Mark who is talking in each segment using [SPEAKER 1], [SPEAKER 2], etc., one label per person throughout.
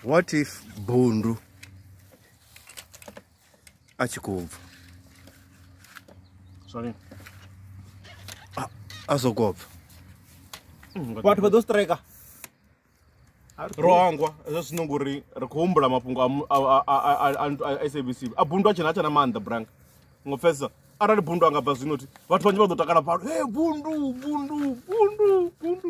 [SPEAKER 1] what if bundu a tshi khou bva
[SPEAKER 2] sorry
[SPEAKER 1] a sokou bva
[SPEAKER 3] vhathu vha ḓo strika
[SPEAKER 2] rohangwa hezwo zwino ngori ri khou humbula mafhungo a sabc a bundu a tshena a tshena maanḓa branga ngo pfesa arali bundu a nga bva zwino ti vhathu vhanzhi vha ḓo takala pfalo e bundu bundu bundu bundu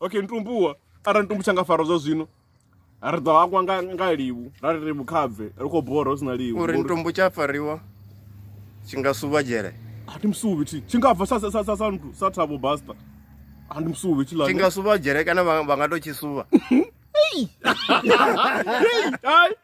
[SPEAKER 2] okay ntumbuwa arali ntumbu tsha nga fara zwa zwino ri ḓo hangwa nga nga liwu ra ri ri vhukhapfe ri khou bora hu si na liwu uri ntumbu tsha fariwa
[SPEAKER 1] tshi nga suva dzhele a ndi musuvi thi tshi
[SPEAKER 2] nga bva sa sa sa sa sa nthu sa thabo basta a ndi musuvi thi la tshi nga suva dzhele kana vha
[SPEAKER 1] vha nga to tshi suva
[SPEAKER 2] Hey! Hey! Hey!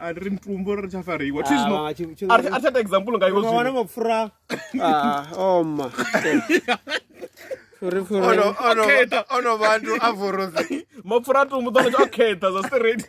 [SPEAKER 1] a ri mutumbu ri tsha fariwa thi zwino Ah, tshi- tshi- a ri a ri tsha ta example nga iwe Ukawana zwino mapfura Ah, oma Furi, furi. Ono- ono- Okhetha. ono vantu avhorozi
[SPEAKER 2] mapfura a tumbu ḓo a khetha zwa straight